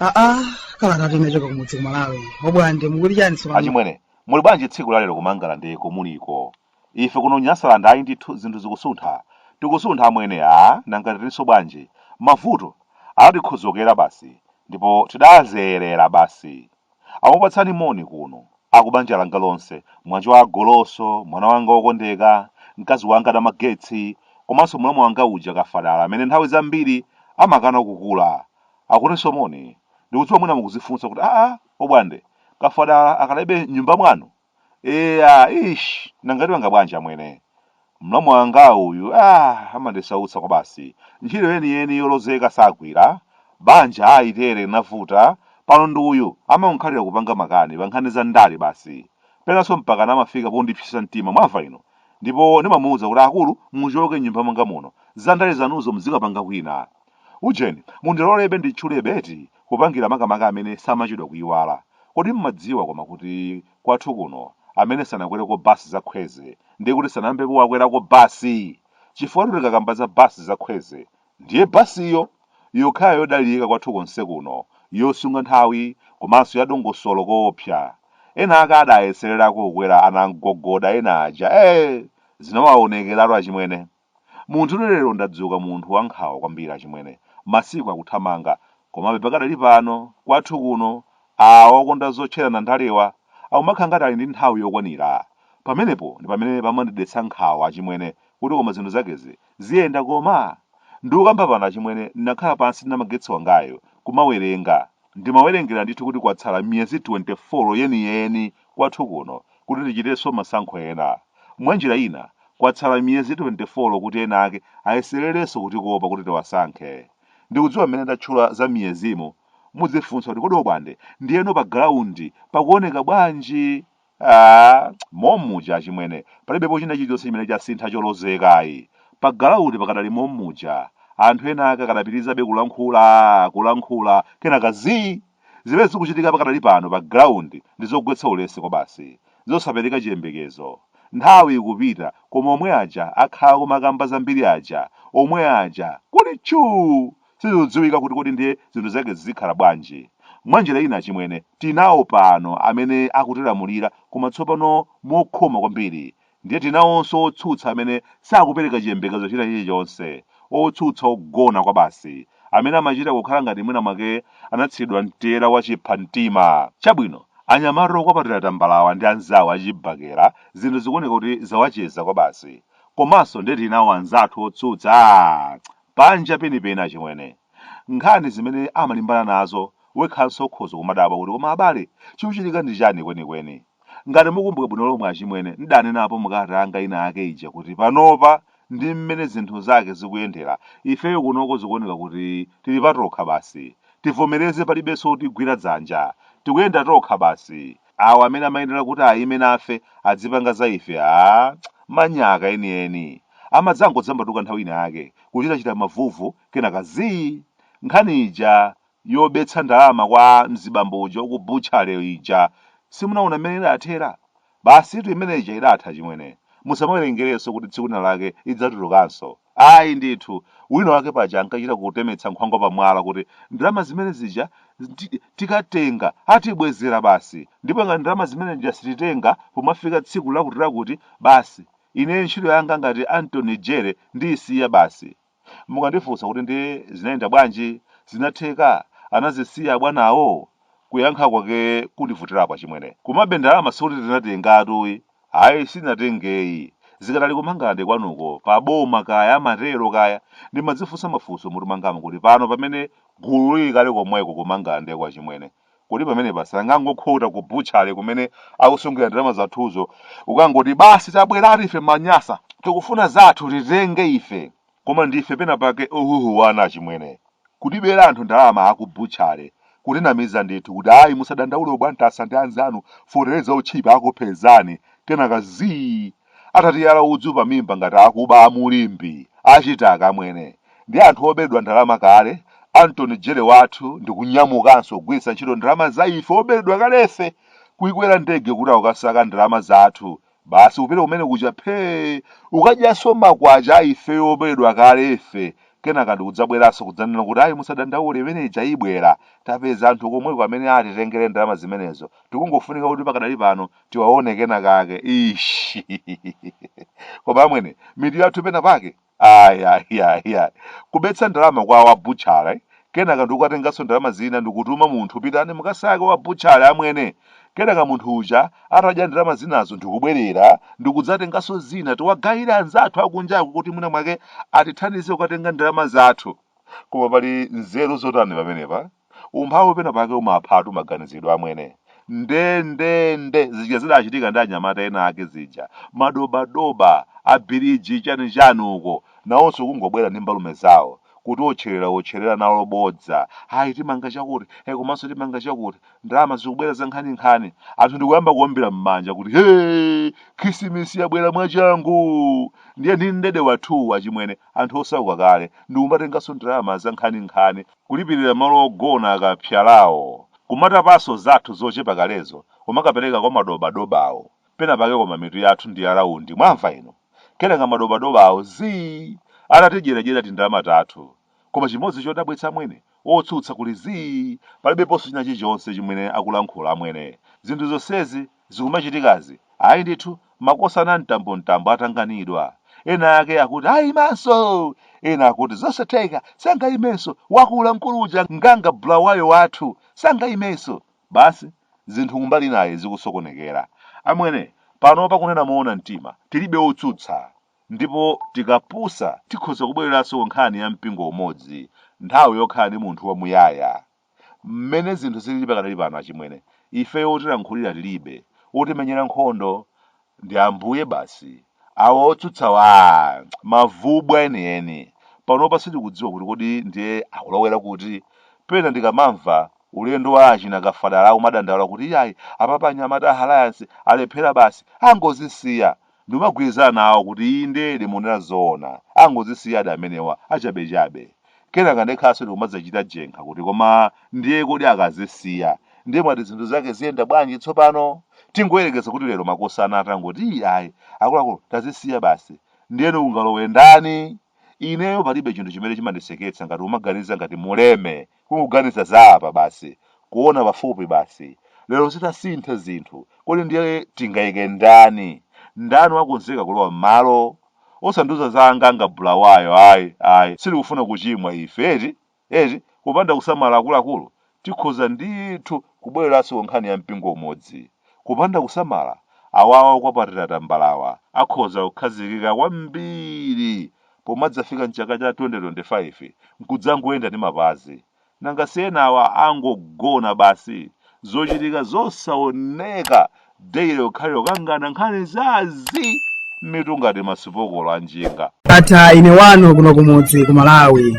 aa kalata yochoka kumudzi ku Malawi obwande mukuti chani achimwene muli bwanji tsiku lalero kumangalande ko muliko Ife kuno Nyasaland ayi ndithu zinthu zikusuntha tikusuntha amwene aa nanga tirinso bwanji mavuto anatikhodzokera basi ndipo tidazolowera basi akupatsani moni kuno akubanja langa lonse mwanjovu a Goloso mwana wanga wokondeka mkazi wanga Namagetsi komanso mlamu wanga uja Kafadala amene nthawi zambiri amakana kukula akutinso moni ndikudziwa mwina mukudzifunsa kuti aa obwande Kafadala akadalibe m'nyumba mwanu Eya, eish, nanga tipanga bwanji amwene? Mlamu wanga uyu, ah, amandisautsa kwabasi. Ntchito yeniyeni yolozeka sagwira. Banja ayi tere linavuta. Pano ndi uyu, amangonkhalira kupanga makani pa nkhani za ndale basi. Penanso mpakana amafika pondipsetsa mtima, mwamva inu? Ndipo ndimamuuza kuti akulu muchoke m'nyumba mwanga muno. Za ndale zanuzo muzikapanga kwina. Ujeni, mundilolebe nditchulebe eti, kupangira makamaka amene samachedwa kuyiwala. Kodi mmadziwa koma kuti kwathu kuno amene sanakwereko bus za Kwezy ndiye kuti sanayambepo wakwerako bus! Chifukwatu tikakamba za bus za Kwezy ndiye bus yo yokhayo yodalirika kwathu konse kuno, yosunga nthawi komanso ya dongosolo koopsa. Ena ake adayesererako kukwera anangongoda ena aja ee! Zinawawonekeratu achimwene. Munthune lero ndadzuka munthu wa nkhawa kwambiri achimwene. Masiku akuthamanga. Komabe pakadali pano, kwathu kuno, awa okonda zotcherana ndalewa akumakhala ngati ali ndi nthawi yokwanira. Pamenepo ndi pamene pamandidetsa nkhawa achimwene kuti koma zinthu zakezi ziyenda koma? Ndikukamba pano achimwene ndinakhala pansi ndi Namagetsi wangayu kumawerenga. Ndimawerengera ndithu kuti kwatsala miyezi 24 yeniyeni kwathu kuno kuti tichitenso masankho ena. Mwanjira ina, kwatsala miyezi 24 kuti enaake ayesererenso kutikopa kuti tiwasankhe. Ndikudziwa mmene ndatchula za miyezimu, mudzifunsa kuti kodi Obwande, ndiyeno pa galaundi pakuoneka bwanji? Aaa momuja achimwene palibepo china chilichonse chimene chasintha cholozeka ayi. Pa galaundi pakadali momuja. Anthu ena ake akadapitirizabe kulankhula, kulankhula, kenaka zii! Zimene zikuchitika pakadali pano pa galaundi ndi zogwetsa ulesi kwabasi, zosapereka chiyembekezo. Nthawi ikupita koma omwe aja akhala akumakamba zambiri aja, omwe aja kuli chuu! Sizikudziwika kuti kodi ndiye zinthu zake zikhala bwanji. Mwanjira ina achimwene, tinawo pano amene akutilamulira koma tsopano mokhoma kwambiri. Ndiye tinawonso otsutsa amene sakupereka chiyembekezo china chilichonse, otsutsa ogona kwabasi, amene amachita kukhala ngati mwina mwake anathiridwa mtela wa chiphamtima. Chabwino, anyamata okwapatira tambalawa ndi anzawo achibakera zinthu zikuoneka kuti zawacheza kwabasi. Komanso ndiye tinawo anzathu otsutsa! Aaa! Panja penipeni achimwene. Nkhani zimene amalimbana nazo wekhanso ukhoza kumadabwa kuti koma abale chikuchitika ndi chani kwenikweni? Ngati mukumbuka bwino lomwe achimwene ndidanenapo mu kalata yanga ina yake ija kuti panopa ndi mmene zinthu zake zikuyendera ifeyo kunoko zikuoneka kuti tili patokha basi. Tivomereze palibenso wotigwira dzanja. Tikuyenda tokha basi. awa amene amayenera kuti ayime nafe adzipanga za ife aah manyaka enieni. amadzangodzambatuka nthawi ina yake kuchitachita mavuvu kenaka zii! nkhani ija yobetsa ndalama kwa mzibambo uja waku butchery ija simunawona mmene idathera? basitu imene ija idatha chimwene. musamawerengerenso kuti tsiku lina lake idzatulukanso. Ayi ndithu. Wina wake paja ankachita kutemetsa nkhwangwa pamwala kuti, Ndalama zimene zija tikatenga, atibwezera basi. Ndipo ngati ndalama zimene zija sititenga pomafika tsiku lakutilakuti, basi, ineyo ntchito yanga ngati Anthony Jere ndiisiya basi. Mukandifunsa kuti ndiye zinayenda bwanji, zinatheka, anazisiya abwanawo? Kuyankha kwake kundivutirapo achimwene. Komabe ndalama sikuti tinatengatuyi. Ayi sitinatengeyi. Zikadali ku Mangalande kwanuko, pa boma kaya amatero kaya, ndimadzifunsa mafunso mutu mwangamu kuti pano pamene gulu lili kale komweko ku Mangalande kwa achimwene, kodi pamenepa sangangokhota ku butchery kumene akusungira ndalama zathuzo kukangoti basi tabweratu ife ma Nyasa tikufuna zathu titenge ife. Koma ndife pena pake ohuhuwana achimwene. Kutibera anthu ndalama aku butchery, kutinamiza ndithu kuti ayi musadandaule oBwantasa ndi anzanu feteleza otchipa akupezani, kenaka zii! Atatiyala udzu pamimba ngati akuba a Mulimbi, achita amwene. Ndi anthu oberedwa ndalama kale, Anthony Jere wathu ndikunyamukanso kugwiritsa ntchito ndalama za ife oberedwa kalefe! Kuikwera ndege kuti akukasaka ndalama zathu Basi upite kumene kuja phee ukadyanso makwacha a ifeyo oberedwa kale ife kenaka ndikudzabweranso kudzanena kuti ayi musadandaule imene ija ibwera. Tapeza anthu komweko amene atitengere ndalama zimenezo tikungofunika kuti pakadali pano tiwaone kenakake. Iiishii! Koma amwene, mitu yathu pena pake. Ayi, ayi, ayi, ayi. Kubetsa ndalama kwa wa butchale, kenaka ndikukatenganso ndalama zina ndikutuma munthu pitani mukasake wa butchale amwene. Kenaka munthu uja atadya ndalama zinazo ndikubwerera ndikudzatenganso zina tiwagayira anzathu akunjaku kuti mwina mwake atithandize kukatenga ndalama zathu. Koma pali nzeru zotani pamenepa? Umphawi pena pake umaphatu maganizidwe amwene. Nde nde zija zidachitika ndi anyamata ena ake zija. Madobadoba, abiriji chani chani uko. Nawonso kungobwera ndi mbalume zawo. Kutiotcheraotchera nawo bodza. Ayi timanga chakuti, e komanso timanga chakuti. Ndalama zikubwera zankhaninkhani. Anthu ndikuyamba kuombera mmanja kuti hee! Khisimisi yabwera mwachangu! Ndiye ndi mdede wathu achimwene. anthu osauka kale ndikumatenganso ndalama zankhaninkhani kulipirira malo ogona akapsalawo, kumatapanso zathu zochepa kalezo kumakapereka kwa madobadobawo, penapake koma mitu yathu ndi ya raundi mwamva inu? kenaka madobadobawo zii atatidyeradyera tindalama tathu koma chimodzi chodabwitsa amwene otsutsa kuli zii palibeponso china chichonse chimwene akulankhula amwene zinthu zonsezi zikumachitikazi, ayi ndithu, makosana mtambomtambo atanganidwa. Ena ake akuti aimanso! Ena akuti zosatheka, sangaimenso, wakula mkulu uja Nganga Bulawayo wathu, sangaimenso! Basi, zinthu kumbali inayi zikusokonekera. Amwene, panopa kunena moona mtima, tilibe otsutsa. Ndipo tikapusa tikhoza kubwereranso ku nkhani ya mpingo umodzi, nthawi yokhala ndi munthu wamuyaya. Mmene zinthu zilili pakadali pano achimwene, ifeyo wotilankhulira tilibe, wotimenyera nkhondo ndi Ambuye basi. Awo otsutsawa aah! Mavubwa enieni. Panopa sitikudziwa kuti kodi ndiye akulowera kuti? Pena ndikamamva ulendo wa achina Kafadala akumadandaula kuti iyayi apapa anyamata a Alliance alephera basi, angozisiya! Ndimagwirizana nawo kuti indedi mukunena zoona angozisiyadi amenewa achabechabe. Kenaka ndekhanso ndikumadzachita jenkha kuti koma ndiye kodi akazisiya ndiye mwati zinthu zake ziyenda bwanji tsopano? Tingoyerekeza kuti lero makosana atangoti ii ayi akuluakulu tazisiya basi ndiyeno kungalowe ndani? Ineyo palibe chinthu chimene chimandiseketsa ngati kumaganiza ngati Muleme Kungoganiza za apa basi, kuona pafupi basi. Lero zitasintha zinthu, kodi ndiye tingaike ndani? Ndani wakonzeka kulowa m'malo? Osandiuza za Anganga Bulawayo ayi, ayi, sitikufuna kuchimwa ife eti, eti, kupanda kusamala akuluakulu, tikhoza ndithu kubwereranso ku nkhani ya mpingo umodzi. Kupanda kusamala, awawa okwapatira tambalawa akhoza kukhazikika kwambiri pomadzafika m'chaka cha 2025 n'kudzangoyenda ndi mapazi? Nanga si enawa angogona basi? Zochitika zosaoneka daily kukhalira kukangana nkhani za zii mitu ngati masipokolo a njinga. Ndatha ine wanu kuno kumudzi ku Malawi.